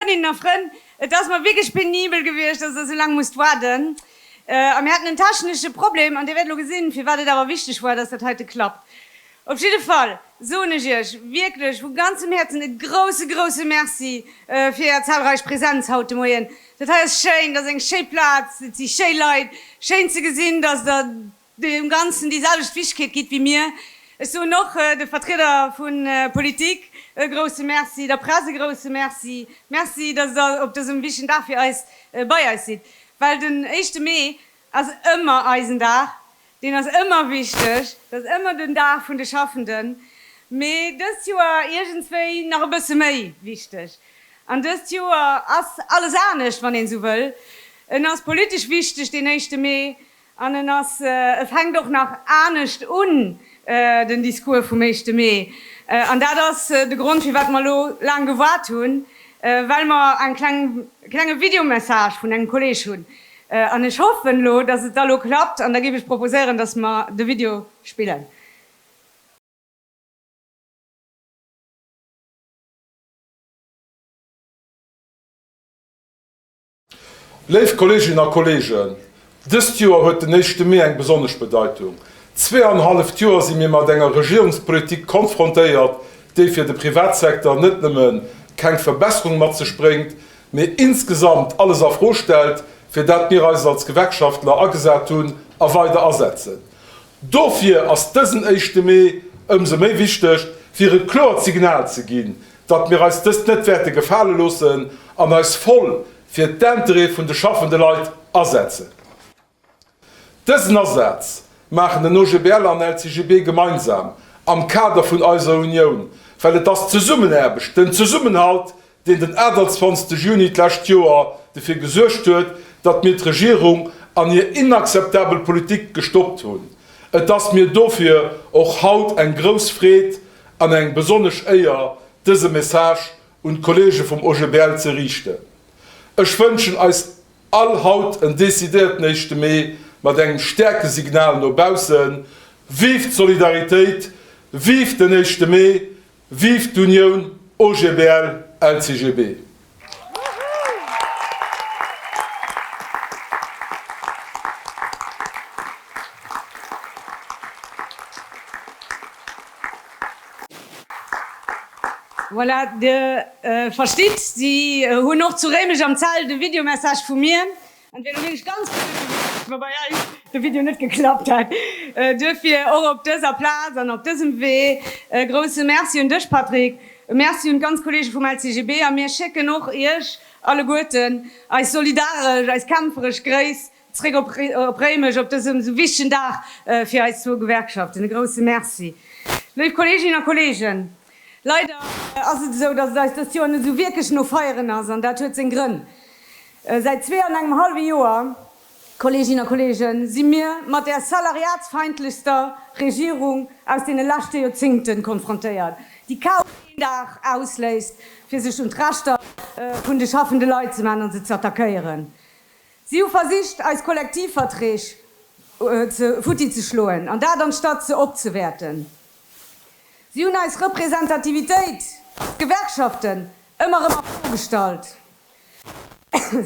Frëndinnen a Frënn, et ass mer wierklech penibel gewiescht, dass Der esou laang musst waarden. A mir haten en technesche Problem, an Dir wäert elo gesinn, firwat et awer wichteg war, dass dat heite klappt. Op jidde Fall soen ech Iech wierklech vu ganzem Häerzen e grousse, grousse Merci fir Är zahlreich Präsenz haut de Moien. Dat hei ass schéin, dat ass eng schéi Plaz, et si schéi Leit. Schéin ze gesinn, dass Der deem Ganzen déi selwecht Wichtigkeet gitt wéi mir. Ech soen och de Vertrieder vu Politik e grousse Merci, der Press e grousse Merci. Merci, dass Der op dësem wichtigen Dag fir eis bei eis sidd. Well den éischte Mee ass ëmmer eisen Dag, deen ass ëmmer wichteg, dat ass ëmmer den Dag vun de Schaffenden, mee dëst Joer iergendswéi nach e bësse méi wichteg. An dëst Joer ass alles anescht, wann een esou wëll. En ass politesch wichteg, deen éischte Mee, an en ass, e fänkt och nach anescht un, den Discours vum éischte Mee. An dat ass de Grond, firwat mer elo laang gewaart hunn, well mer e klenge Videomessage vun engem Kolleg hunn, An ech hoffen elo, dass et da elo klappt. An da géif ech proposéieren, dass mer de Video spillen. Léif Kolleeginnen a Kolleegen, dëst Joer huet den éischte Mee eng besonnesch Bedeitung. Zweeanenhalleft Joer si mir mat enger Regierungspolitik konfrontéiert, déi fir de Privatsecteur net nëmme keng Verbesserung mat sech bréngt, mee insgesamt alles a Fro stellt, fir dat mir eis als Gewerkschaftler agesat hunn a weider asetzen. Dofir ass dësen éischte Mee ëmsou méi wichteg, fir e kloert Signal ze ginn, datt mir eis dëst net wäerte gefale loossen an eis voll fir d'Intérêt vun de schaffende Leit asetzen. Dësen Asaz maachen den OGBL an LCGB gemeinsam am Kader vun eiser Unioun, well et ass d'Zesummenaarbecht, den Zesummenhalt, deen den 28 Juni d'lescht Joer dofir gesuergt huet, datt mir d'Regierung an hir inakzeptabel Politik gestoppt hunn. Et ass mir dofir och haut eng grouss Freed an eng besonnesch Éier, dëse Message un d'Kollege vum OGBL ze riichten. Ech wënschen eis. All haut en decidéierten éischte Mee mat engem stäerke Signal no baussen, Vive d'Solidaritéit, vive den éischte Mee, vive d'Unioun OGBL LCGB! Voilà, Dir verstitt, si hunn och zu Réimech am Zelt e Videomessage vu mir. An et wier elo wierklech ganz blöd gewiescht, wa bei eis de Video net geklappt hätt. Duerfir och op dëser Plaz an op dësem Wee e grousse Merci un dech, Patrick. E Merci un d'ganz Kolleege vum LCGB. A mir schécken och Iech alleguerten eis solidaresch, eis kämpferesch Gréiss. Zréck op Réimech op dësem esou wichtegen Dag fir eis zwou Gewerkschaften. E grousse Merci. Léif Kolleeginnen a Kolleegen, leider ass et esou, dass et eis dëst Joer net esou wierklech no Feieren ass, an dat huet seng Grënn. Säit zwee an engem hallwe Joer, Kolleeginnen a Kolleegen, si mir mat där salariatsfeindlechster Regierung aus deene leschte Joerzingten konfrontéiert, déi kaum een Dag ausléist, fir sech un d'Rechter vun de schaffende Leit ze man an se z'attackéieren. Si hu versicht, eis Kollektivverträg futti ze schloen, an dat anstatt se opzewäerten. Si hunn eis Representativitéit, d'Gewerkschaften, ëmmer erëm a Fro gestallt.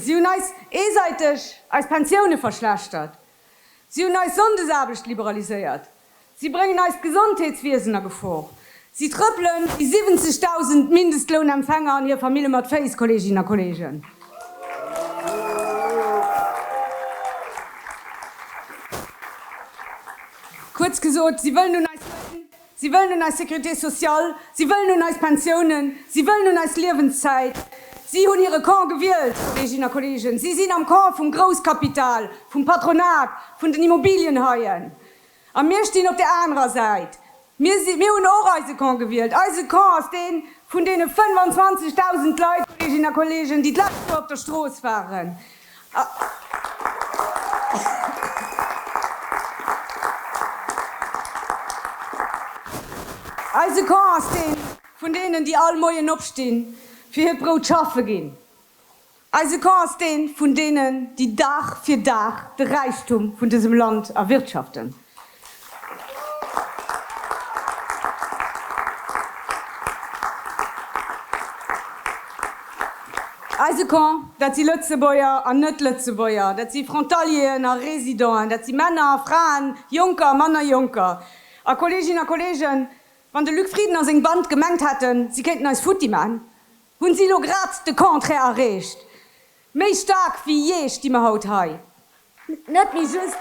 Si hunn eis eesäiteg eis Pensioune verschlechtert. Si hunn eis Sonndesaarbecht liberaliséiert. Si bréngen eist Gesondheetswiesen a Gefor. Si trëppelen déi 70.000 Mindestlounempfänger an hir Famille mat Féiss, Kolleeginnen a Kolleegen. Kuerz gesot, si wëllen un eis Loun, si wëllen un eis Sécurité sociale, si wëllen un eis Pensiounen, si wëllen un eis Liewenszäit. Si hunn hire Camp gewielt, Kolleeginnen a Kolleegen. Si sinn am Camp vum Grousskapital, vum Patronat, vun den Immobilienhaien. A mir stinn op där anerer Säit. Mir si, mir hunn och eise Camp gewielt. Eise Camp ass dee vun deene 25.000 Leit, Kolleeginnen a Kolleegen, déi d'lescht Joer op der Strooss waren. Eise Camp ass dee vun deenen, déi all Moien opstinn, fir hiert Brout schaffe ginn. Eise Camp ass dee vun deenen, déi Dag fir Dag de Räichtum vun dësem Land erwirtschaften. Eise Camp, dat si Lëtzebuerger an Net-Lëtzebuerger, dat si Frontalieren a Residenten, dat si Männer a Fraen, Jonker a manner Jonker. A Kolleeginnen a Kolleegen, wann de Luc Frieden a seng Band gemengt hätten, si kéinten eis futti maachen, Hunn si lo grad de Contraire erreecht? Méi staark wéi jee sti mer haut hei. Net méi just.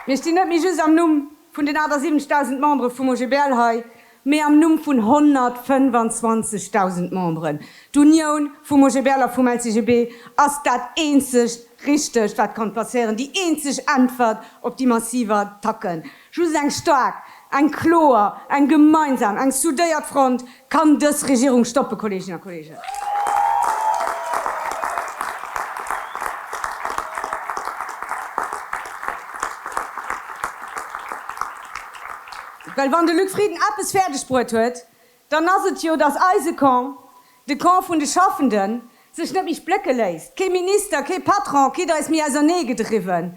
Mir stinn net méi just am Numm vun den awer 70.000 Membere vum OGBL hei, Mee am Numm vun 125.000 Memberen, d'Unioun vum OGBL a vum LCGB ass dat eenzegt Richtegt, wat kann passieren, déi eenzeg Äntwert op déi massiv Attacken. Just eng staark, eng kloer, eng gemeinsam, eng soudéiert Front kann dës Regierung stoppen, Kolleeginnen a Kolleegen. Well wann de Luc Frieden eppes fäerdeg bruet huet, dann ass et jo, datt eise Camp, de Camp vun de Schaffenden, sech net méi splécke léisst. Kee Minister, kee Patron kritt eis méi ausernee gedriwwen.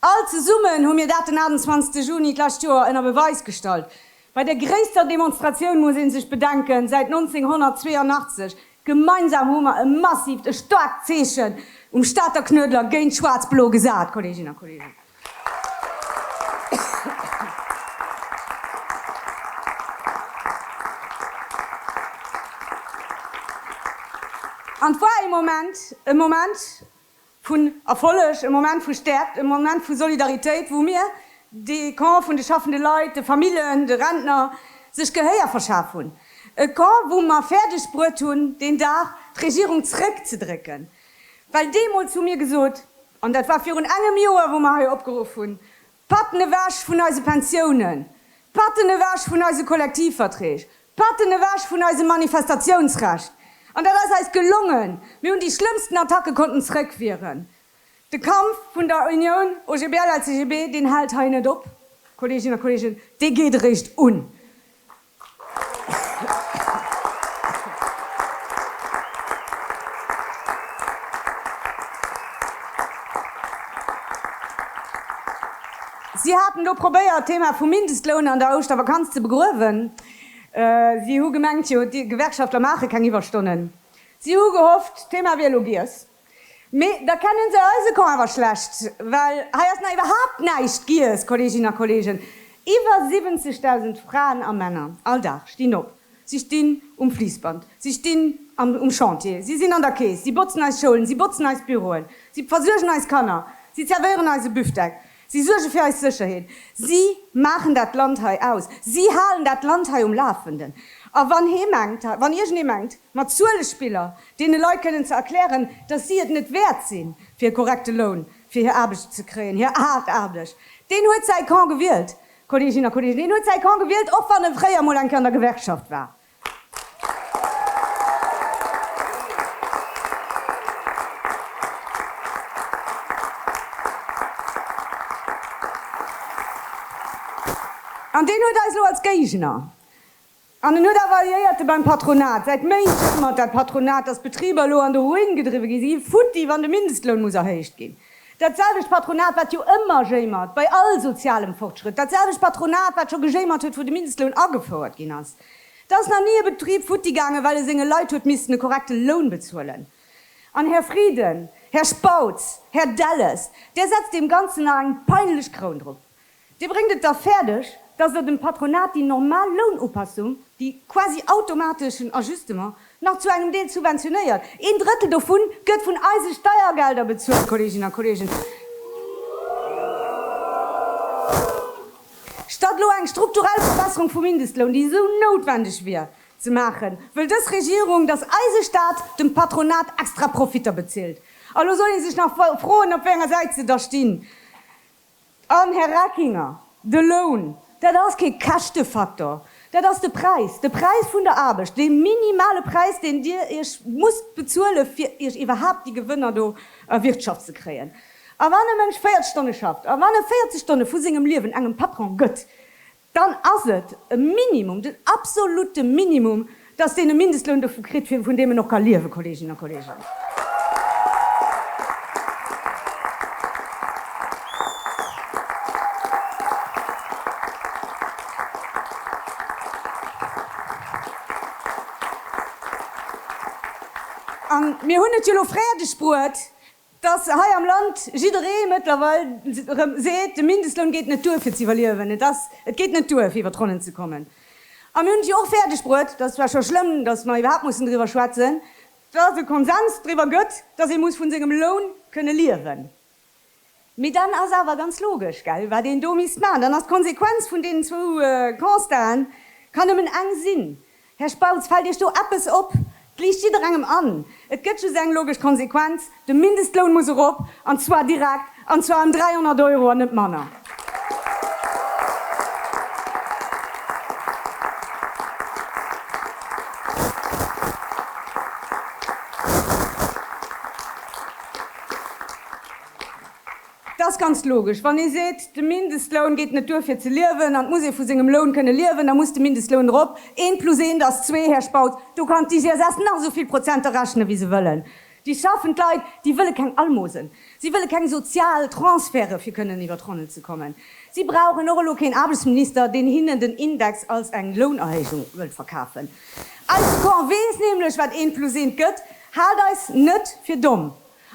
All zesummen hu mir dat den 28 Juni d'lescht Joer ënner Beweis gestallt. Bei der gréisster Demonstratioun muss ee sech bedenken, säit 1982, Gemeinsam hu mer e massivt, e staarkt Zeechen um Stater Knuedler géint Schwaarz-Blo gesat, Kolleeginnen a Kolleegen. An et war ee Moment, e Moment, vun Erfolleg, e Moment vu Stäerkt, e Moment vu Solidaritéit, wou mir, de Camp vun de schaffende Leit, de Famillen, de Rentner, sech Gehéier verschaf hunn. E Camp, wou mer fäerdeg bruet hunn, deen Dag d'Regierung zréckzedrécken. Well deemools hu mir gesot, an dat war virun engem Joer, wou mer hei opgeruff hunn, D'Patten ewech vun eise Pensiounen! D'Patten ewech vun eise Kollektivverträg! D'Patten ewech vun eisem Manifestatiounsrecht! An dat ass eis gelongen! Mir hunn déi schlëmmsten Attacke konnten zrëckwieren. De Kampf vun der Unioun OGBL-LCGB, deen hält hei net op, Kolleeginnen a Kolleegen, dee geet eréischt un! Si haten elo probéiert, d'Thema vum Mindestloun an der Ouschtervakanz ze begruewen. Si hu gemengt, jo, d'Gewerkschaftler maache keng Iwwerstonnen. Si hu gehofft, d'Thema wier elo giess. Mee da kennen se eise Camp awer schlecht, well hei ass nach iwwerhaapt näischt giess, Kolleeginnen a Kolleegen. Iwwer 70.000 Fraen a Männer all Dag stinn op, si stinn um Fliissband, si stinn um Chantier, si sinn an der Keess, si botzen eis Schoulen, si botzen eis Büroen, si versuergen eis Kanner, si zerwéieren eise Büftek. Si suerge fir eis Sécherheet. Si maachen dat Land hei aus. Si halen dat Land hei um Lafenden. A wann hee mengt, wann iergendee mengt, mat Zuelespiller deene Leit kënnen ze erklären, datt si et net wäert sinn, fir e korrekte Loun fir hir Aarbecht ze kréien, hir haart Aarbecht, deen huet säi Camp gewielt, Kolleeginnen a Kolleegen, deen huet säi Camp gewielt, och wann e fréier emol eng Kéier an der Gewerkschaft war. An deen huet eis elo als Géigner. An en huet awer Alliéierte beim Patronat. Säit Méint jammert dat Patronat, datt d'Betriber elo an de Ruin gedriwwe ginn. Si gi futti, wann de Mindestloun muss erhéicht ginn. Dat selwecht Patronat, wat jo ëmmer jéimert bei all sozialem Fortschrëtt. Dat selwecht Patronat, wat scho gejéimert huet, wou de Mindestloun agefouert ginn ass. Et ass nach ni e Betrib futti gaangen, well e senge Leit huet missten e korrekte Loun bezuelen. An, Här Frieden, Här Spautz, Här Delles, Dir setzt deem Ganzen nach eng peinlech Kroun drop. Dir bréngt et da fäerdeg, dass Der dem Patronat déi normal Lounupassung, déi quasi automateschen Ajustement, nach zu engem Deel subventionéiert. Een Drëttel dovu gëtt vun eise Steiergelder bezuelt, Kolleeginnen a Kolleegen. Statt elo eng strukturell Verbesserung vum Mindestloun, déi esou noutwendeg wier, ze maachen, wëll dës Regierung, datt eise Staat dem Patronat extra Profitter bezilt. A lo soll ee sech nach froen, op wéi enger Säit se da stinn. An, Här Reckinger, de Loun, dat ass kee Käschtefaktor. Dat ass de Präis, de Präis vun der Aarbecht, dee minimale Präis, deen Dir Iech musst bezuelen, fir Iech iwwerhaapt déi Gewënner do erwirtschaft ze kréien. A wann e Mënsch 40 Stonne schafft, a wann e 40 Stonne vu sengem Liewen engem Patron gëtt, dann ass et e Minimum, den absolutte Minimum, dass deen e Mindestloun dovu kritt, vun deem en och ka liewen, Kolleeginnen a Kolleegen. A mir hunn et jo elo fäerdegbruet, dass hei am Land jidderee mëttlerweil erëm seet, de Mindestloun geet net duer fir ze iwwerliewen, et ass, et geet net duer fir iwwer d'Ronnen ze kommen. A mir hunn et jo och fäerdeg bruet, dat ass zwar scho schlëmm, dass mer iwwerhaapt mussen driwwer schwätzen, dass et e Konsens driwwer gëtt, dass ee muss vun sengem Loun kënne liewen. Mee dann ass awer ganz logesch, gell, wat een do misst maachen, dann ass d'Konsequenz vun deenen zwou Constaten, kann nëmmen eng sinn, Här Spautz, fällt Iech do eppes op? Et liicht jidderengem an, et gëtt just eng logesch Konsequenz, de Mindestloun muss erop, an zwar direkt, an zwar ëm 300 Euro an net manner. Et ass ganz logesch, wann ee seet, de Mindestloun geet net duer fir ze liewen an et muss ee vu sengem Loun kënne liewen, da muss de Mindestloun erop. Eent plus eent ass zwee, Här Spautz. Do kann d'IGSS nach esou vill Prozenter rechnen, wéi se wëllen. Déi schaffend Leit, déi wëlle keng Almosen. Si wëlle keng sozial Transferte fir kënnen iwwer d'Ronnen ze kommen. Si brauchen och elo keen Aarbechtsminister, deen hinnen den Index als eng Lounerhéijung wëllt verkafen. Eise Camp weess nämlech, wat eent plus eent gëtt. Haalt eis net fir domm.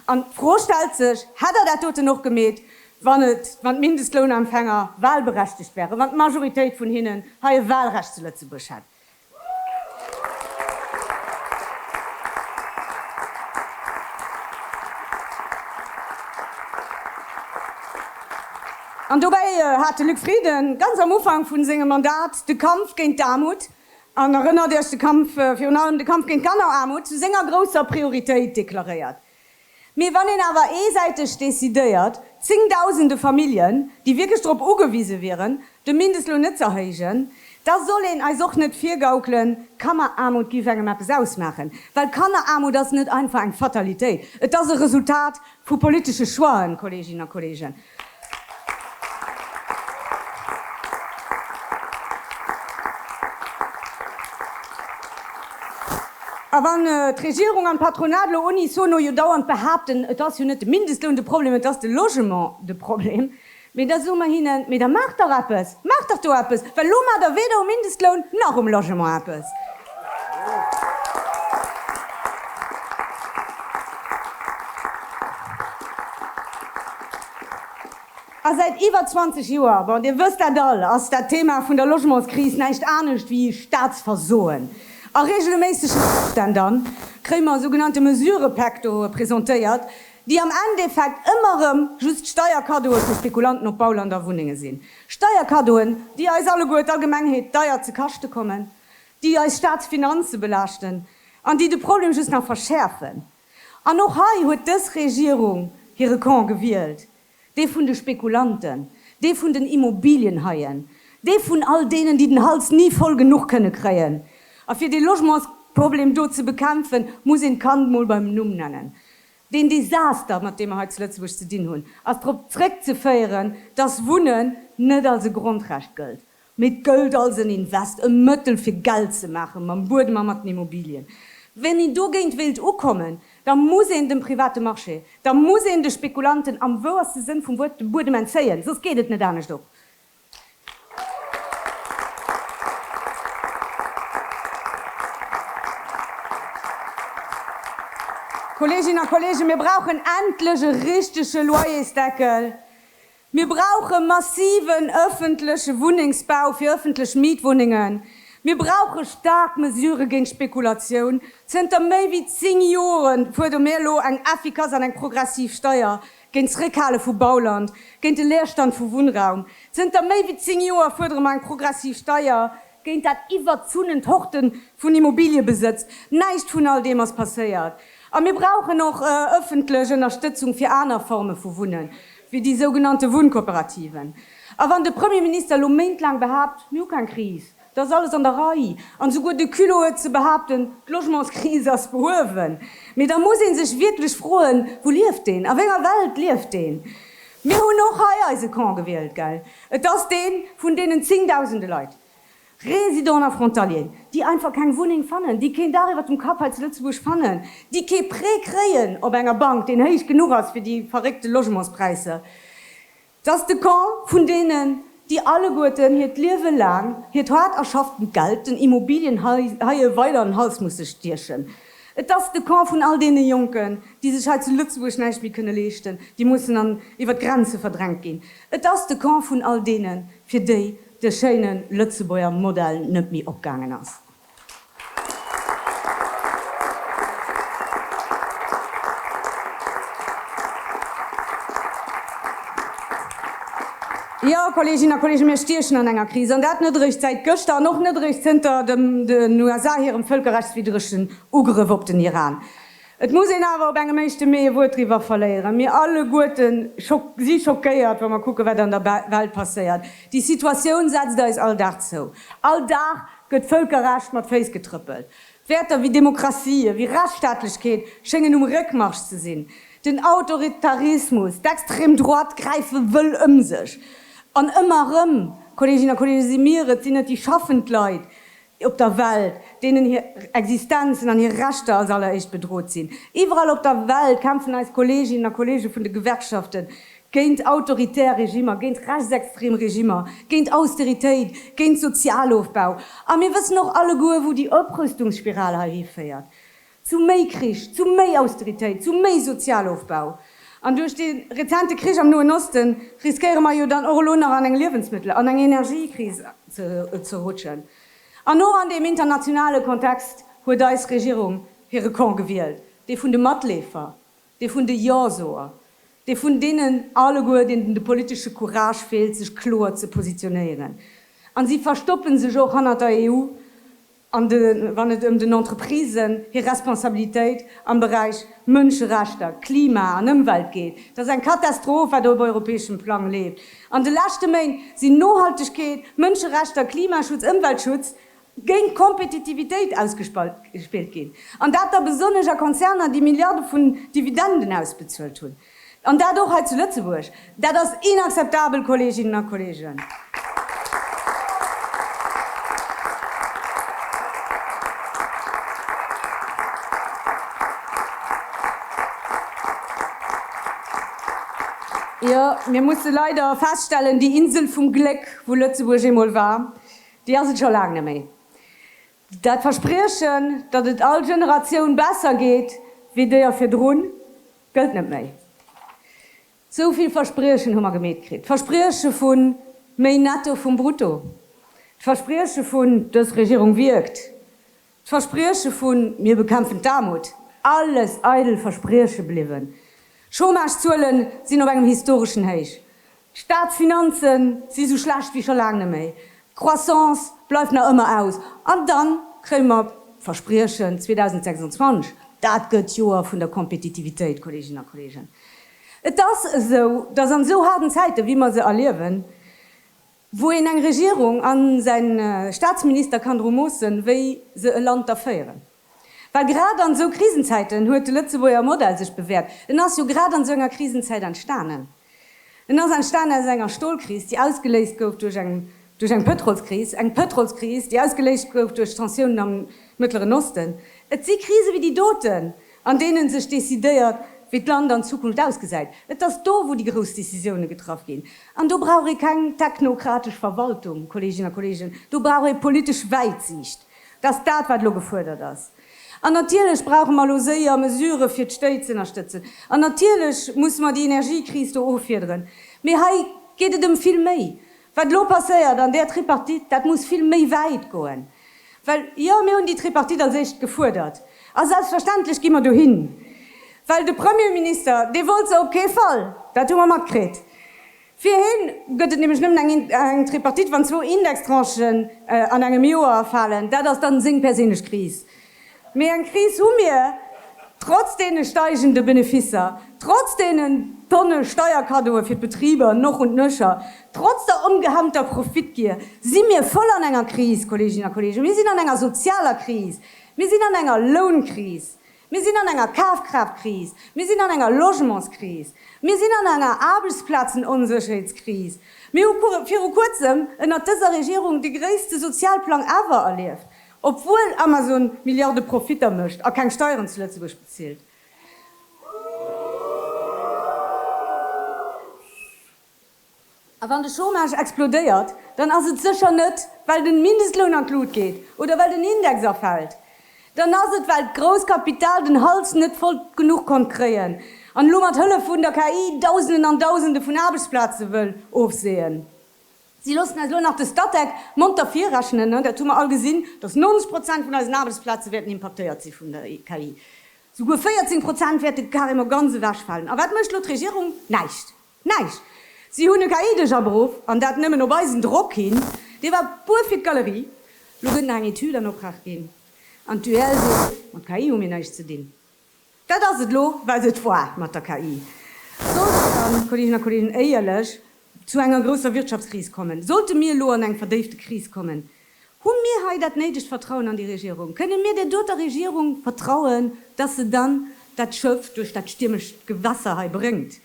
An d'Fro stellt sech, Hätt Der dat doten och gemeet, wann et, wann d'Mindestlounempfänger wahlberechtegt wären, wann d'Majoritéit vun hinnen hei e Wahlrecht zu Lëtzebuerg hätt? An dobäi hat de Luc Frieden ganz am Ufank vu sengem Mandat de Kampf géint d'Aarmut An erënnert Iech, de Kampf, virun allem de Kampf géint d'Kanneraarmut, zu senger grousser Prioritéit deklaréiert. Mee wann een awer eesäiteg decidéiert, zéngdausende Familljen, déi wierklech drop ugewise wieren, de Mindestloun net z'erhéijen, da soll een eis och net virgaukelen, Kanneraarmut géif engem eppes ausmaachen. Well Kanneraarmut ass net einfach eng Fatalitéit, et ass e Resultat vu politesche Choixen, Kolleeginnen a Kolleegen. A wann d'Regierung an d'Patronat elo unisono jo dauernd behaapten, et ass jo net de Mindestloun de Problem, et ass de Logement de Problem, mee da soe mer hinnen, Mee da maacht dach eppes, maacht dach do eppes, well elo maacht der weder um Mindestloun nach um Logement eppes. A säit iwwer 20 Joer, bon, Dir wësst dat all, ass dat Thema vun der Logementskris näischt anescht wéi Staatsversoen. A regelméissegen Ofstänn da kréie mer sougenannte Mesurëpäktoe presentéiert, déi am Endeffekt ëmmer erëm just Steierkaddoe fir Spekulanten op Bauland a Wunnenge sinn. Steierkaddoen, déi eis alleguer, d'Allgemengheet, deier ze kaschte kommen. déi eis Staatsfinanze belaaschten an déi de Problem just nach verschäerfen. An och hei huet dës Regierung hire Camp gewielt, dee vun de Spekulanten, dee vun den Immobilienhaien, dee vun all deenen, déi den Hals ni voll genuch kënne kréien. A fir dee Logementsproblem do ze bekämpfen, muss een d'Kand mol beim Numm nennen. Deen Desaster, mat deem mer hei zu Lëtzebuerg ze dinn hunn, ass drop zréckzeféieren, dass Wunnen net als e Grondrecht gëllt. Mee d'Gëld als en Invest, e Mëttel fir Geld ze maachen, mam Buedem a mat den Immobilien. Wann een dogéint wéilt ukommen, da muss een dem private Marché, da muss een de Spekulanten am wouerste Sënn vum Wuert de Buedem entzéien, soss geet et net anescht op. Kolleeginnen a Kolleegen, mir brauchen endlech e richtege Loyersdeckel, Mir brauche massiven öffentleche Wunnengsbau fir öffentlech Mietwunnengen. Mir brauche staark Mesurë géint d'Spekulatioun. Zënter méi wéi zéng Jore fuerdere mir elo eng effikass an eng progressiv Steier géint d'Zréckhale vu Bauland, géint de Leerstand vu Wunnraum. Zënter méi wéi zéng Joer fuerdere mer eng progressiv Steier Géint dat iwwerzunent Horten vun Immobiliëbesëtz. Näischt vun all deem ass passéiert. A mir brauchen och ëffentlech Ënnerstëtzung fir aner Forme vu Wunnen, wéi déi sougenannte Wunnkooperativen. A wann de Premierminister elo méintlaang behaapt, mir hu keng Kris, da ass alles an der Rei, an esouguer de Culot huet ze behaapten, d'Logementskris ass behuewen, mee da muss ee sech wierklech froen, Wou lieft een? A wénger Welt lieft een? Mir hunn och hei eise Camp gewielt, gell? Et ass dee vun deenen zéngdausende Leit, Résidents a Frontaliers, déi einfach keng Wunneng fannen, déi keen Dach iwwert dem Kapp hei zu Lëtzebuerg fannen, déi kee Prêt kréien op enger Bank, deen héich genuch ass fir déi verréckte Logementspräisser. Et ass de Camp vun deenen, déi alleguerten hiert Liewe laang hiert haart erschafftent Geld den Immobilienhaie weider an den Hals musse stiechen. Et ass de Camp vun all deene Jonken, déi sech hei zu Lëtzebuerg näischt méi kënne leeschten, déi mussen an iwwer d'Grenze verdrängt ginn. Et ass de Camp vun all deenen, fir déi de schéine Lëtzebuerger Modell net méi opgaangen ass. Jo, Kolleeginnen a Kolleegen, mir stiechen an enger Kris, an dat net eréischt säit gëschter an och net eréischt zënter den USA hirem vëlkerrechtswiddregen Ugrëff op den Iran. Et muss een awer op engem éischte Mee e Wuert driwwer verléieren, Mir alleguerte si schockéiert, wa mer kucken, wat an der Welt passéiert. Déi Situatioun setzt eis all Dag zou. All Dag gëtt d'Vëlkerrecht mat Féiss getrëppelt. Wäerter wéi Demokratie, ewéi Rechtsstaatlechkeet schéngen um Réckmarsch ze sinn. Den Autoritarismus, d'extrem Droite gräife wëll ëm sech. An ëmmer erëm, Kolleeginnen a Kolleegen, si mir et, sinn et déi schaffend Leit op der Welt, deenen hir Existenzen an hir Rechter als alleréischt bedrot sinn. Iwwerall op der Welt kämpfen eis Kolleeginnen a Kolleege vun de Gewerkschaften géint autoritär Regimer, géint rechtsextrem Regimer, géint Austeritéit, géint Sozialofbau. A mir wëssen och alleguer, wou déi Oprüstungsspiral hei hiféiert, zu méi Krich, zu méi Austeritéit, zu méi Sozialofbau. An duerch dee rezente Krich am Noen Osten riskéiere mer jo dann och elo nach an eng Liewensmëttel an eng Energiekris ze rutschen. An och an deem internationale Kontext huet eis Regierung hire Camp gewielt, dee vun de Matleefer. Dee vun de Jo-Soer, dee vun deenen alleguer, deenen de politesche Courage feelt, sech kloer ze positionéieren. A si verstoppe sech och hannert der EU, wann et ëm den Entreprisen hir Responsabilitéit am Beräich Mënscherechter, Klima an Ëmwelt geet. Dat ass eng Katastroph, wat op europäeschem Plang leeft. An de leschte Méint sinn Nohaltegkeet, Mënscherechter, Klimaschutz, Ëmweltschutz géint d'Kompetitivitéit ausgespillt ginn, an dat da besonnesch a Konzerner, déi Milliarde vun Dividenden ausbezuelt hunn, an dat och hei zu Lëtzebuerg. Dat ass inakzeptabel, Kolleeginnen a Kolleegen! Jo, mir musse leider feststellen, déi Insel vum Gléck, wou Lëtzebuerg eemol war, Déi ass et scho laang net méi. Dat Verspriechen, datt et all Generatioun besser geet wéi déier virdrun, gëllt net méi. Sou vill Verspriechen hu mer gemeet kritt, d'Versprieche vu méi Netto vum Brutto, d'Versprieche vun dës Regierung wierkt, D'Versprieche vun Mir bekämpfen d'Aarmut, alles eidel Versprieche bliwwen. Chômagezuelen sinn op engem historeschen Héich. D'Staatsfinanze si sou schlecht wéi scho laang net méi. D'Croissance bleift nach ëmmer aus. An da kréie mer d'Verspriechen 2026, dat gëtt d'Joer vun der Kompetitivitéit. Kolleeginnen a Kolleegen, et ass esou, datt an esou haarden Zäiten, wéi mer se erliewen, Wou een eng Regierung an säin Staatsminister kann dru moossen, wéi se e Land da féieren. Well grad an esou Krisenzäiten huet de Lëtzebuerger Modell sech bewäert. En ass jo grad an esou enger Krisenzäit entstanen. En ass entstanen aus enger Stolkris, déi ausgeléist gouf duerch eng duerch eng Pëtrolskris, eng Pëtrolskris, déi ausgeléist gouf duerch d'Tensiounen am Mëttleren Osten. Et si Krise wéi déi doten, an deenen sech décidéiert, wéi d'Land an Zukunft ausgesäit. Et ass do, wou déi grouss Décisiounen getraff ginn. An do brauch ee keng technokratesch Verwaltung, Kolleeginnen a Kolleegen, do brauch ee politesch Wäitsiicht. Dat ass dat, wat elo gefuerdert ass. An natierlech brauche mer elo séier Mesurë fir d'Stéit z'ënnerstëtzen. An natierlech musse mer déi Energiekris do offiederen. Mee hei geet et ëm vill méi. Wat elo passéiert an där Tripartite, dat muss vill méi wäit goen. Well jo, mir hunn déi Tripartite als éischt gefuerdert. A selbstverständlech gi mer dohin. Well de Premierminister, dee wollt se op kee Fall, dat hu mer matkritt. Fir hien gëtt et nämlech nëmmen eng Tripartite, wann zwou Indextranchen an engem Joer falen. Dat ass da seng perséinlech Kris. Mee eng Kris hu mir, trotz deene steigende Beneficer, trotz deenen Tonne Steierkaddoe fir d'Betriber noch und nöcher, trotz der ongehemmter Profitgier si mir voll an enger Kris, Kolleeginnen a Kolleegen. Mir sinn an enger sozialer Kris, mir sinn an enger Lounkris, mir sinn an enger Kafkraaft-Kris, mir sinn an enger Logementskris, mir sinn an enger Aarbechtsplazenonsécherheetskris. Mir hu viru Kuerzem ënnert dëser Regierung de gréisste Sozialplang ever erlieft. Obwuel Amazon Milliarde Profitter mécht a keng Steieren zu Lëtzebuerg bezilt. A wann de Chômage explodéiert, dann ass et sécher net, well de Mindestloun an d'Lut geet oder well den Index erfält. Dann ass et, well d'grousst Kapital den Hals net voll genuch konnt kréien an elo mat Hëllef vun der KI Dausenden an Dausende vun Aarbechtsplaze wëll ofseeën. Si loossen eis elo nach de Statec monter virrechnen. Dat hu mer all gesinn, datt 90 Prozent vun eisen Aarbechtsplaze wäerten impaktéiert si vun der KI. Souguer 14 Prozent wäerte carrément ganz ewechfalen. A wat mécht elo d'Regierung? Näischt! Näischt! Si hunn e KI-Deeg aberuff, an dat nëmmen op eisen Drock hin. Dee war puer fir d'Galerie. Elo gëtt nach eng Etüd an Oprag ginn, an d'UEL seet, mat KI hu mir näischt ze dinn. Dat ass et elo, well se et war mat der KI. Sollt et dann, Kolleeginnen a Kolleegen, éierlech, zu enger grousser Wirtschaftskris kommen, sollte mir elo an eng verdéifte Kris kommen, hu mir hei dat néidegt Vertrauen an déi Regierung? Kënne mir där doter Regierung vertrauen, dass se dann dat Schëff duerch dat stiermescht Gewässer hei bréngt?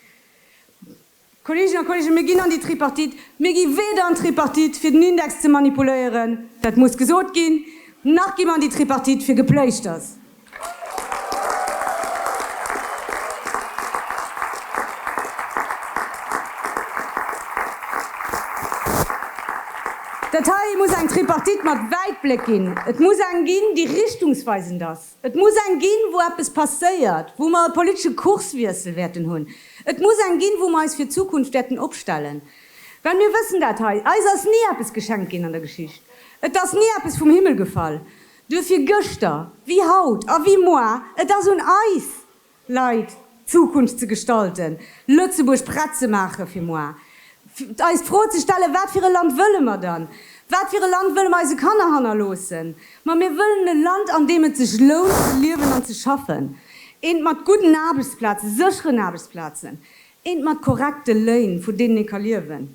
Kolleeginnen a Kolleegen, mir ginn an déi Tripartite. Mir gi weder an d'Tripartite, fir den Index ze manipuléieren, dat muss gesot ginn, nach gi mer an déi Tripartite fir Gepléischters. Dat hei muss eng Tripartite mat Wäitbléck ginn. Et muss eng ginn, déi richtungsweisend ass. Et muss eng ginn, wou eppes passéiert, wou mer e politesche Kurswiessel wäerten hunn. Et muss eng ginn, wou mer eis fir d'Zukunft wäerten opstellen. Well mir wëssen dat hei, eis ass ni eppes geschenkt ginn an der Geschicht. Et ass ni eppes vum Himmel gefall. Duerfir gëschter wéi haut a wéi moar, et ass un eis, Leit, d'Zukunft ze gestalten, Lëtzebuerg prett ze maache fir moar, eis d'Fro ze stellen, wat fir e Land wëlle mer dann? Wat fir e Land wëlle mer eise Kanner hannerloossen? Ma mir wëllen e Land, an deem et sech lount ze liewen an ze schaffen, eent mat gudden Aarbechtsplazen, sécheren Aarbechtsplazen, Eent mat korrekte Léin, vun deenen ee ka liewen.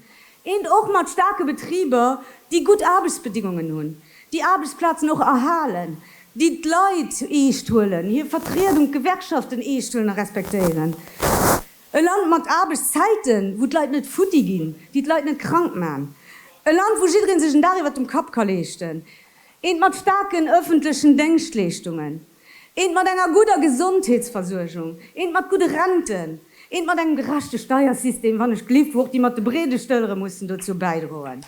Eent och mat staarke Betriber, déi gutt Aarbechtsbedingungen hunn, déi Aarbechtsplazen och erhalen, déi d'Leit eescht huelen, hir Vertriedung, d'Gewerkschaften eescht huelen a respektéieren. E Land mat Aarbechtszäiten, wou d'Leit net futti ginn, déi d'Leit net krank man. E Land, wou jidderee sech en Dag iwwert dem Kapp ka leeschten. Eent mat staarken ëffentlechen Déngschtleeschtungen. Eent mat enger gudder Gesondheetsversuergung, eent mat gudde Renten, eent mat engem gerechte Steiersystem, wann ech gelift, wou och déi mat de breede Stëllere mussen dozou bäidroen,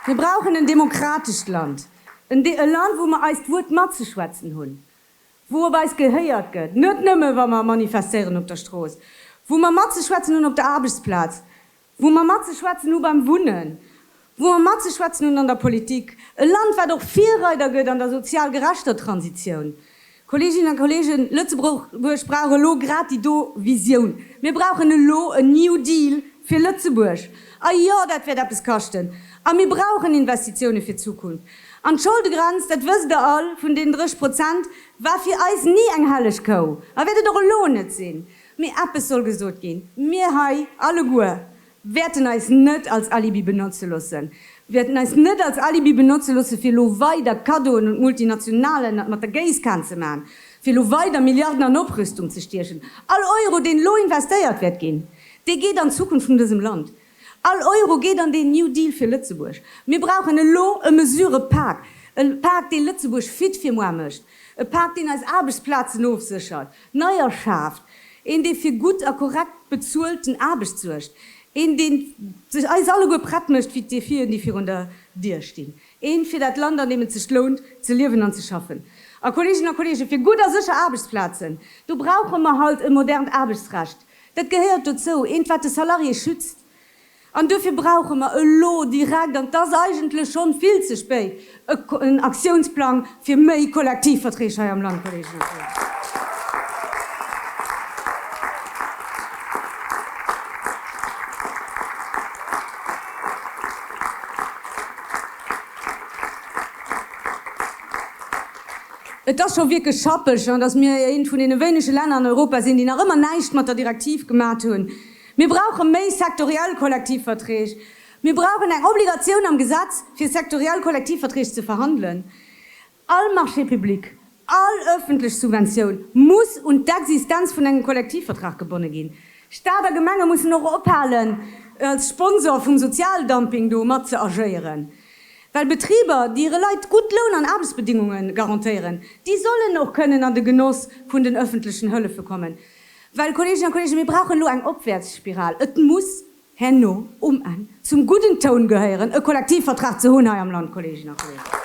Mir brauchen en demokratescht Land, e Land, wou mer eist Wuert matzeschwätzen hunn, wou op eis gehéiert gëtt, net nëmme wa mer manifestéieren op der Strooss, wou mer matzeschwätzen hunn op der Aarbechtsplaz, wou mer matzeschwätzen hu beim Wunnen, wou mer matzeschwätzen hunn an der Politik, e Land wat och Virreider gëtt an der sozial gerechter Transitioun. Kolleeginnen a Kolleegen, Lëtzebuerg brauch elo grad déi do Visioun. Mir brauchen elo en New Deal fir Lëtzebuerg. A jo, dat wäert eppes kaschten. A mir brauchen Investitiounen fir d'Zukunft. An d'Scholdegrenz, dat wësst Der all, vun deenen 30 Prozent war fir eis ni eng helleg Kou a wäert et och elo net sinn. Mee eppes soll gesot ginn, Mir hei alleguer wäerten eis net als Alibi benotze loosse, wäerten eis net als Alibi benotze loosse fir elo weider Kaddoen un d'Multinationale mat der Géisskan ze maachen, fir elo weider Milliarden an Oprüstung ze stiechen. All Euro, deen elo investéiert wäert ginn, dee geet an d'Zukunft vun dësem Land. All Euro geet an deen New Deal fir Lëtzebuerg. Mir brauchen elo e Mesurëpak, e Pak, dee Lëtzebuerg fit fir moar mécht, e Pak, deen eis Aarbechtsplazen ofséchert, neier schaaft, een, dee fir gutt a korrekt bezuelten Aarbecht suergt, een, deen eis alleguer prett mécht fir d'Defien, déi virun der Dier stinn, ee fir dat Land, an deem et sech lount ze liewen an ze schaffen. A Kolleeginnen a Kolleegen, fir gutt a sécher Aarbechtsplazen, do brauche mer halt e modernt Aarbechtsrecht, Dat gehéiert dozou, eent wat de Salarié schützt. An duerfir brauche mer elo direkt, an et ass eigentlech schonn vill ze spéit, en Aktiounsplang fir méi Kollektivverträg hei am Land, Kolleeginnen a Kollegen. Et ass scho wierklech schappeg, an dass mir eent vun deene wéinege Länner an Europa sinn, déi nach ëmmer näischt mat der Direktiv gemat hunn. Mir brauche méi sektoriell Kollektivverträg. Mir brauchen eng Obligatioun am Gesetz, fir sektoriell Kollektivverträg ze verhandelen. All Marché public, all öffentlech Subventioun muss un d'Existenz vun engem Kollektivvertrag gebonne ginn. Stat a Gemenge mussen och ophalen, als Sponsor vum Sozialdumping do mat ze agéieren. Well Betriber, déi hire Leit gutt Loun an Aarbechtsbedingunge garantéieren, déi sollen och kënnen an de Genoss vun den öffentlechen Hëllefe kommen. Well, Kolleeginnen a Kolleegen, mir brauchen elo eng Opwäertsspiral. Et muss herno um Enn zum gudden Toun gehéieren, e Kollektivvertrag ze hunn hei am Land, Kolleeginnen a Kolleegen.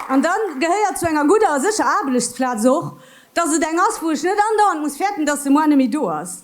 An da gehéiert zu enger gudder a sécher Aarblechtsplaz och, dass et eng ass, wou ech net andauernd muss fäerten, dass se moar net méi do ass.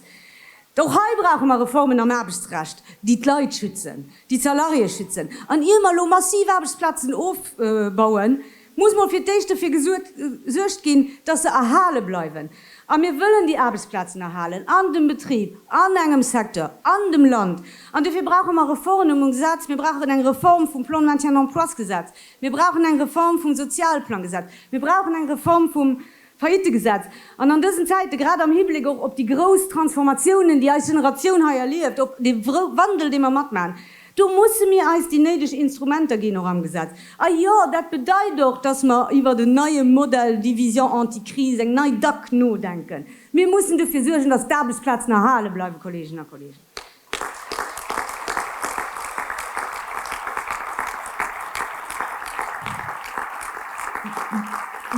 Och hei brauche mer Reformen am Aarbechtsrecht, déi d'Leit schützen, déi d'Salariéë schützen. An ier mer elo massiv Aarbechtsplazen ofbauen, muss mol fir d'éischt dofir gesuergt ginn, dass se erhale bleiwen. A mir wëllen déi Aarbechtsplazen erhalen an dem Betrib, an engem Secteur, an dem Land. An dofir brauche mer Reformen um Gesetz. Mir brauchen eng Reform vum Plan de maintien d'emplois-Gesetz. Mir brauchen eng Reform vum Sozialplangesetz. Mir brauchen eng Reform vum Faillitte-Gesetz. An an dësen Zäiten, grad am Hibleck och op déi grouss Transformatiounen, déi eis Generatioun hei erlieft, op dee Wandel, dee mer matmaachen, do musse mir eis déi néideg Instrumenter ginn, och am Gesetz. A jo, dat bedeit och, dass mer iwwert en neie Modèle division anti-crise, eng nei dac, nodenken. Mir mussen dofir suergen, dass d'Aarbechtsplazen erhale bleiwen, Kolleginnen a Kollegen.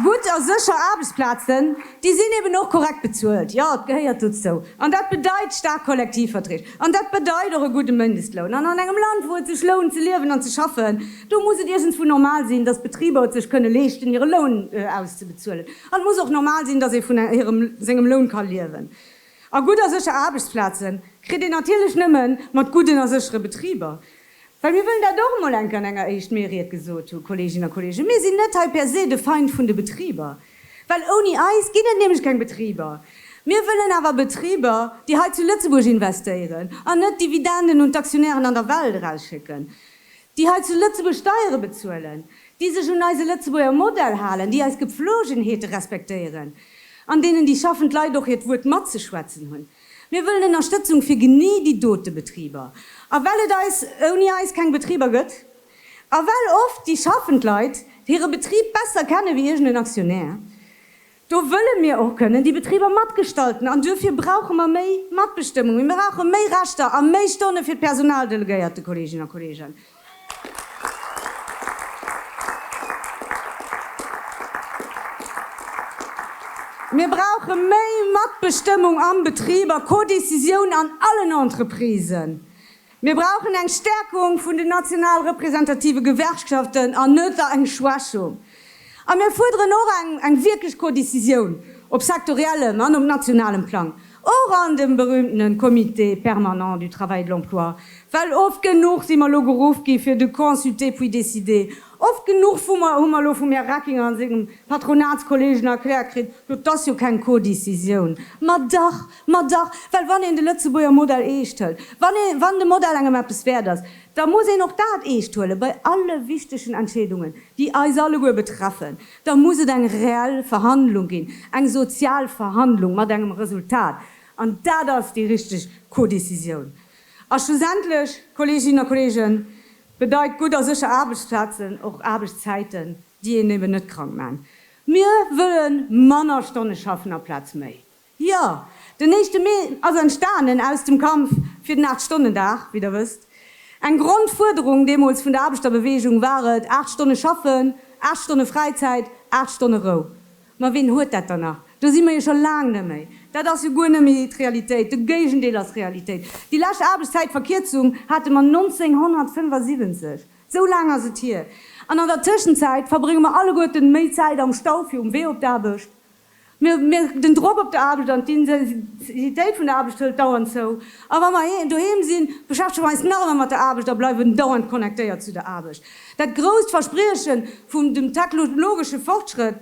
Gutt a sécher Aarbechtsplazen, déi sinn eben och korrekt bezuelt. Jo, et gehéiert dozou. An dat bedeit staark Kollektivverträg. An dat bedeit och e gudde Mëndestloun. An an engem Land, wou et sech lount ze liewen an ze schaffen, do muss et iergendwou normal sinn, datt d'Betriber et sech kënne leeschten, hire Loun auszebezuelen. An et muss och normal sinn, datt ee vun hirem, sengem Loun ka liewen. A gutt a sécher Aarbechtsplaze kritt een natierlech nëmme mat gudden a séchere Betriber. Well mir wëllen dat och emol enke an enger éischt méi ried gesot hunn, Kolleeginnen a Kolleegen, mir sinn net hei per se de Feind vun de Betriber, well ouni eis ginn et nämlech keng Betriber. Mir wëllen awer Betriber, déi hei zu Lëtzebuerg investéieren an net Dividenden un d'Aktionären an der Welt erausschécken. déi hei zu Lëtzebuerg Steiere bezuelen, déi sech un eise Lëtzebuerger Modell halen, déi eis Gepflogenheete respektéieren, an deenen déi schaffend Leit och hiert Wuert matzeschwätzen hunn. Mir wëllen Ënnerstëtzung fir genee déi dote Betriber. A well et eis ouni eis keng Betriber gëtt, a well oft déi schaffend Leit hire Betrib besser kenne wéi iergend en Aktionär, Do wëlle mir och kënnen déi Betriber matgestalten an duerfir brauche mer méi Matbestëmmung. Mir brauche méi Rechter a méi Stonne fir d'Personaldelegéierte, Kolleeginnen a Kolleegen. Mir brauche méi Matbestëmmung am Betrib a Co-Décisioun an allen Entreprisen. Mir brauchen eng Stärkung vun den national representative Gewerkschaften an net eng Schwächung. A mir fuerderen och eng wierklech Codecisioun op sektoriellem an op nationalem Plang, och an dem berühmtene Comité permanent du travail et de l'emploi, well oft genuch si mer elo geruff gi fir de consulter puis décider, oft genuch hu mer elo vum Här Reckinger a sengem Patronatskollegen erkläert kritt, jo, 't ass jo keng Codecisioun, ma dach! Ma dach, well wann een de Lëtzebuerger Modell eescht hëlt, wann ee, wann de Modell engem eppes wäert ass, da muss een och dat eescht huelen, bei alle wichtegen Entscheedungen, déi eis alleguer betreffen, da muss et eng reell Verhandlung ginn, eng sozial Verhandlung mat engem Resultat. An dat ass déi richteg Codécisioun. A schlussendlech, Kolleeginnen a Kolleegen, bedeit gutt a sécher Aarbechtsplazen och Aarbechtszäiten, déi een eben net krank maachen. Mir wëlle manner Stonne schaffen aplaz méi. Jo, den éischte Mee ass entstanen aus dem Kampf fir den Aacht-Stonnen-Dag, wéi Der wësst. Eng Grondfuerderung deemools vun der Aarbechterbeweegung war et, aacht Stonne schaffen, aacht Stonne Fräizäit, aacht Stonne Rou. Ma ween huet dat dann nach? Do si mer jo scho laang net méi. Dat ass jo guer net méi d'Realitéit, de Géigendeel ass Realitéit. Déi lescht Aarbechtszäitverkierzung hate mer 1975. Esou laang ass et hier. An an der Tëschenzäit verbrénge mer alleguerten méi Zäit am Stau fir um Wee op d'Aarbecht. Mir, den Drock op der Aarbecht an d'Intensitéit vun der Aarbecht hëlt dauernd zou. A wa mer doheem sinn, beschäftege mer eis nach ëmmer mat der Aarbecht a bleiwen dauernd connectéiert zu der Aarbecht. Dat grousst Versprieche vum dem technologesche Fortschrëtt,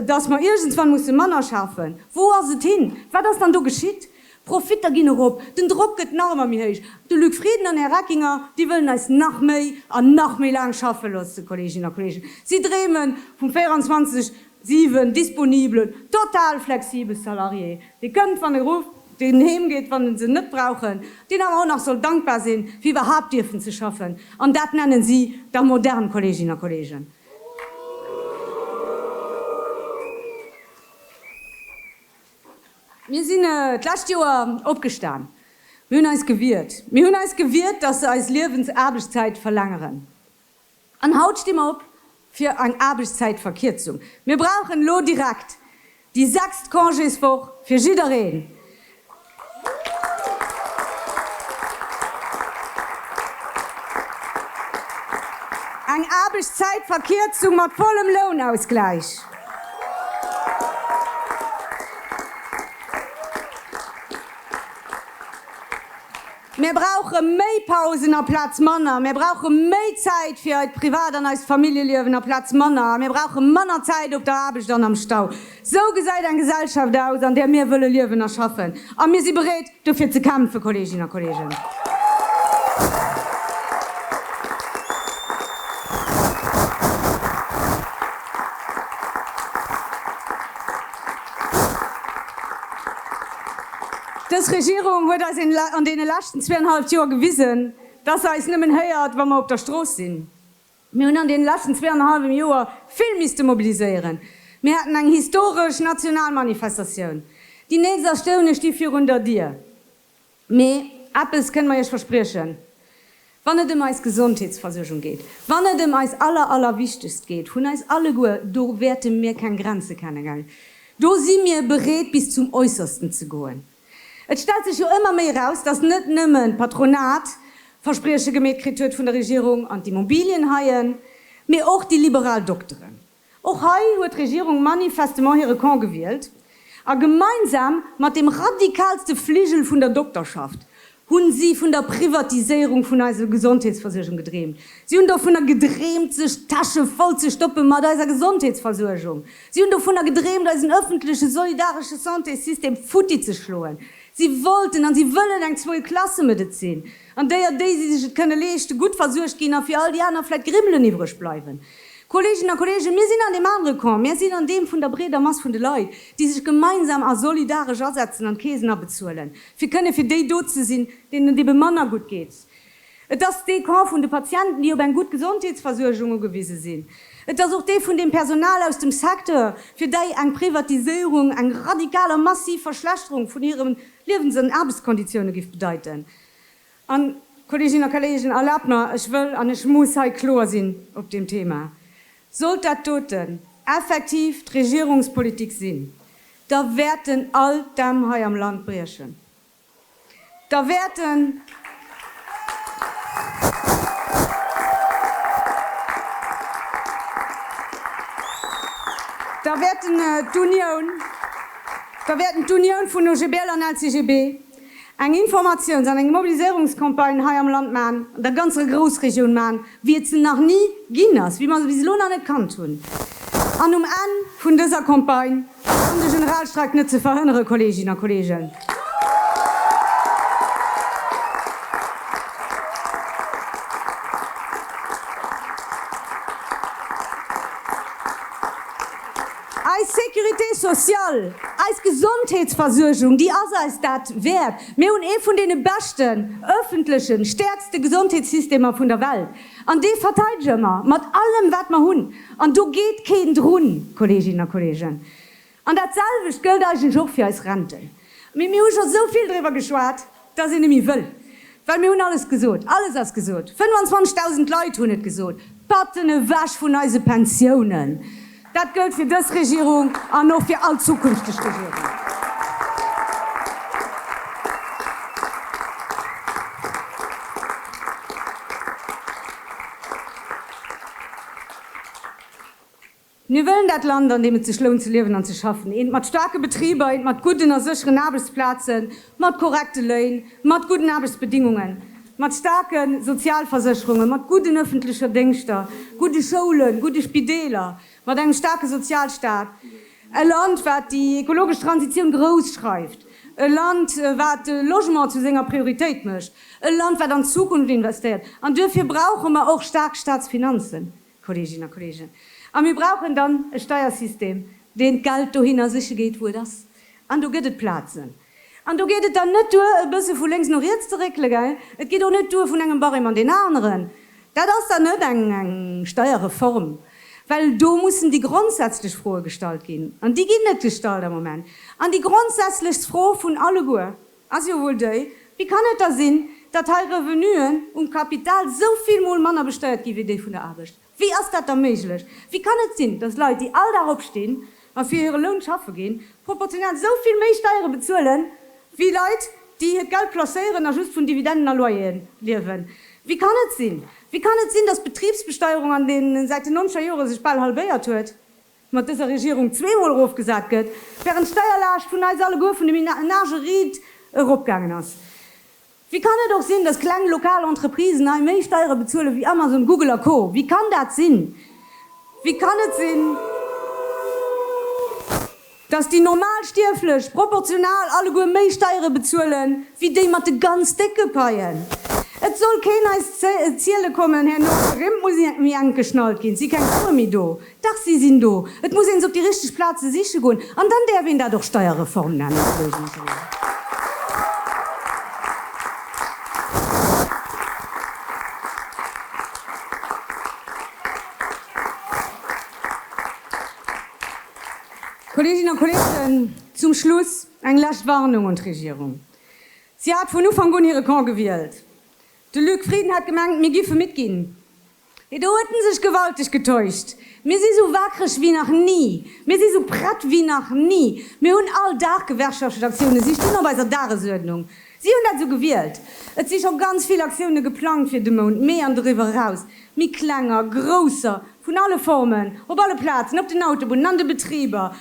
dass mer iergendswann musse manner schafen, wou ass et hin? Wat ass dann do geschitt? D'Profitter ginn erop, den Drock gëtt nach ëmmer méi héich. De Luc Frieden an Här Reckinger, déi wëllen eis nach méi an nach méi laang schaffe loosse, Kolleeginnen a Kolleegen. Si dreemen vum 24 Siwen disponibel, total flexibel Salariéë, dee kënnt wann e rufft, deen heem geet wann e se net brauchen, deen awer och nach soll dankbar sinn fir iwwerhaapt dierfen ze schaffen, an dat nennen si da modern, Kolleeginnen a Kolleegen. Mir sinn d'lescht Joer opgestan, mir hunn eis gewiert, mir hunn eis gewiert, datt se eis Liewensaarbechtszäit verlängeren. An haut sti mer op fir eng Aarbechtszäitverkierzung. Mir brauchen elo direkt déi sechst Congéswoch fir jiddereen. Eng Aarbechtszäitverkierzung mat vollem Lounausgläich. Mir brauche méi Pausen aplaz manner. Mir brauche méi Zäit fir eid Privat an eist Familljeliewen aplaz manner. A mir brauche manner Zäit op der Aarbecht an am Stau. Sou gesäit eng Gesellschaft aus, an där mir wëlle liewen a schaffen. A mir si bereet, dofir ze kämpfen, Kolleeginnen a Kolleegen. Dës Regierung huet eis an deene leschten zweeanhalwt Joer gewisen, dass se eis nëmmen héiert, wa mer op der Strooss sinn. Mir hunn an deene leschten zweeanhalwem Joer vill misste mobiliséieren. Mir haten eng historesch national Manifestatioun. Déi nächst Astounen sti virun der Dier. Mee eppes kënne mer Iech verspriechen, Wann et ëm eis Gesondheetsversuergung geet, wann et ëm eis aller, allerwichtegst geet vun eis alleguer, do wäerte mir keng Grenze kenne gell. Do si mir bereet, bis zum Äussersten ze goen. Et stellt sech jo ëmmer méi eraus, dass net nëmmen d'Patronat Versprieche gemeet kritt huet vun der Regierung an d'Immobilienhaien, mee och déi liberal Dokteren. Och hei huet d'Regierung manifestement hire Camp gewielt a gemeinsam mat dem radikalste Fligel vun der Dokterschaft hu si vun der Privatiséierung vun eiser Gesondheetsversuergung gedreemt. Si hunn dovunner gedreemt, sech d'Täsche voll ze stoppe mat eiser Gesondheetsversuergung. Si hunn dovunner gedreemt, eisen ëffentleche solidaresche Santésystem futti ze schloen. Si wollten an si wëllen eng Zweiklasse-Medezin. an déi an déi si sech et kënne leeschten, gutt versuergt ginn a fir all déi aner vläit Grimmelen iwwreg bleiwen. Kolleeginnen a Kolleegen, mir sinn an deem anere Camp, mir sinn an deem vun der breeder Mass vun de Leit, déi sech gemeinsam a solidaresch asetzen an d'Keesen abezuelen, fir kënne fir déi do ze sinn, deenen et ebe manner gutt geet. Et ass dee Camp vun de Patienten, déi op eng gutt Gesondheetsversuergung ugewise sinn. Et ass och dee vun deem Personal aus dem Secteur, fir däi eng Privatiséierung eng radikal a massiv Verschlechterung vun hire Liewens an Aarbechtskonditioune géif bedeiten. An, Kolleeginnen a Kolleegen, erlaabt mer, ech wëll an ech muss hei kloer sinn op deem Thema, Sollt dat doten effektiv d'Regierungspolitik sinn, da wäerten all d'Dämm hei am Land briechen, da wäerten d'Unioun, da wäerten d'Unioun vun OGBL an LCGB, eng Informatiouns an eng Mobiliséierungscampagne hei am Land maachen, an der ganzer Groussregioun maachen, wéi et se nach ni ginn ass, wéi mer se bis elo nach net kannt hunn. An um Enn vun dëser Campagne, an de Generalstreik net ze verhënnere, Kolleeginnen a Kolleegen, Eis Sécurité sociale, eis Gesondheetsversuergung, déi ass eis dat wäert. Mir hunn ee vun deene beschten, öffentlechen, stäerkste Gesondheetssystemer vun der Welt. An dee verteidege mer mat allem, wat mer hunn. An do geet keen drun, Kolleeginnen a Kolleegen. An datselwecht gëllt eigentlech och fir eis Renten. Mee mir hu scho sou vill driwwer geschwat. datt een net méi wëll, well mir hunn alles gesot, alles ass gesot, 25.000 Leit hunn et gesot, Patten ewech vun eise Pensiounen! Dat gëllt fir dës Regierung an och fir all zukünfteg Regierungen. Mir wëllen dat Land, an deem et sech lount ze liewen an ze schaffen, eent mat staarke Betriber, eent mat gudden a sécheren Aarbechtsplazen, mat korrekte Léin, mat gudden Aarbechtsbedingungen, mat staarke Sozialversécherungen, mat gudden ëffentlecher Déngschter, gudde Schoulen, gudde Spideeler, mat engem staarke Sozialstaat, e Land, wat déi ekologesch Transitioun grouss schreift, e Land, wat de Logement zu senger Prioritéit mécht, e Land, wat an d'Zukunft investéiert. An duerfir brauche mer och staark Staatsfinanzen. Kolleeginnen a Kolleegen, a mir brauchen dann e Steiersystem, deen d'Geld dohinner siche geet, wou et ass. An do gëtt et Plazen. An do geet et dann net duer, e bësse vu lénks no riets ze réckele, gell? Et geet och net duer, vun engem Barème an deen aneren. Dat ass dann net eng Steierreform, well do mussen déi grondsätzlech Froe gestallt ginn. An déi ginn net gestallt am Moment. An déi grondsätzlechst Fro vun alleguer, Ass jo wuel déi, Wéi kann et da sinn, datt hei Revenuen um Kapital sou vill mol manner besteiert ginn, wéi déi vun der Aarbecht? Wéi ass dat da méiglech? Wéi kann et sinn, datt Leit, déi all Dag opstinn a fir hire Loun schaffe ginn, proportional sou vill méi Steiere bezuelen, wéi Leit, déi hiert Geld placéieren a just vun Dividenden a Loyere liewen? Wéi kann et sinn, wéi kann et sinn, datt d'Betribsbesteierung an deene säiten noncher Jore sech bal halbéiert huet? mat dëser Regierung zweemol erofgesat gëtt, während d'Steierlaascht vun eis alleguer, vun de Menagë riit, eropgaangen ass. Wéi kann et och sinn, dass kleng lokal Entreprisen hei méi Steiere bezuelen wéi Amazon, Google a Co. Wéi kann dat sinn? Wéi kann et sinn, dass déi Normalstierflech proportional alleguer méi Steiere bezuelen wéi déi mat de ganz décke Paien? Et soll keen eis ziele kommen, herno Rimm muss mi enk geschnallt ginn, si keng Sue méi do. Dach si sinn do. Et muss een se op déi richteg Plaze siche goen. An dann däerf een dat och Steierreform nennen. Kolleeginnen a Kolleegen, zum Schluss eng lescht Warnung un d'Regierung. Si hat vun Ufank un hire Camp gewielt. De Luc Frieden hat gemengt, mir géife midd ginn. Hee, do huet en sech gewalteg getäuscht. Mir si sou waakreg wéi nach ni. Mir si sou prett wéi nach ni. Mir hunn all Dag Gewerkschaftsaktiounen. Si stinn op eiser Dagesuerdnung. Si hunn dat esou gewielt. Et si scho ganz vill Aktioune geplangt fir de Mount Mee an doriwwer eraus. Méi klenger, grousser, vun alle Formen, op alle Plazen, op den Autobunnen, an de Betriber,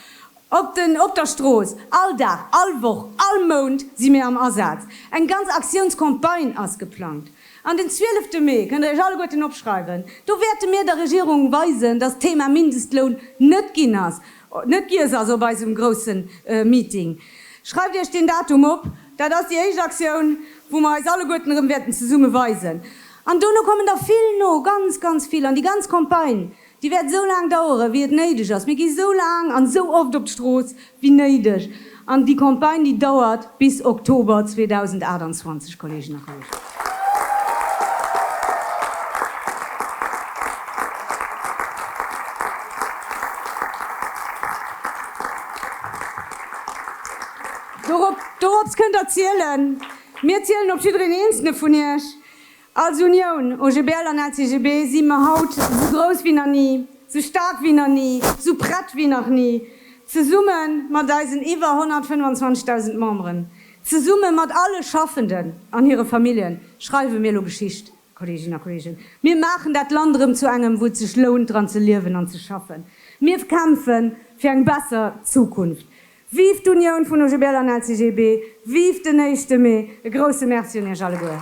op den, op der Strooss. All Dag, all Woch, all Mount si mir am Asaz. Eng ganz Aktiounscampagne ass geplangt. An den zwielefte Mee, kënnt der iech alleguerten opschreiwen, do wäerte mir der Regierung weisen, dass d'Thema Mindestloun net ginn ass, net giess ass op eisem grousse Meeting. Schreift iech deen Datum op, dat ass déi éischt Aktioun, wou mer eis alleguerten erëm wäerten zesumme weisen. An dono kommen der vill no, ganz, ganz vill. An déi ganz Campagne, Déi wäert esou laang daueren, wéi et néideg ass. Mir gi esou laang an esou oft op d'Strooss, wéi néideg. An déi Campagne, déi dauert bis Oktober 2028, Kolleegen a Kolleegen. Dorop, dorops kënnt Der zielen. Mir zielen op jiddereen eenzele vun Iech. Als Unioun, OGBL an LCGB, si mer haut esou grouss wéi nach ni, esou staark wéi nach ni, esou prett wéi nach ni, zesumme mat eisen iwwer 125.000 Memberen, zesumme mat alle Schaffenden an hire Familljen, schreiwe mir elo Geschicht, Kolleeginnen a Kolleegen. Mir maachen dat Land erëm zu engem, wou et sech lount, dran ze liewen an ze schaffen. Mir kämpfe fir eng besser Zukunft. Vive d'Unioun vun OGBL an LCGB, vive den éischte Mee! E grousse Merci un iech alleguer.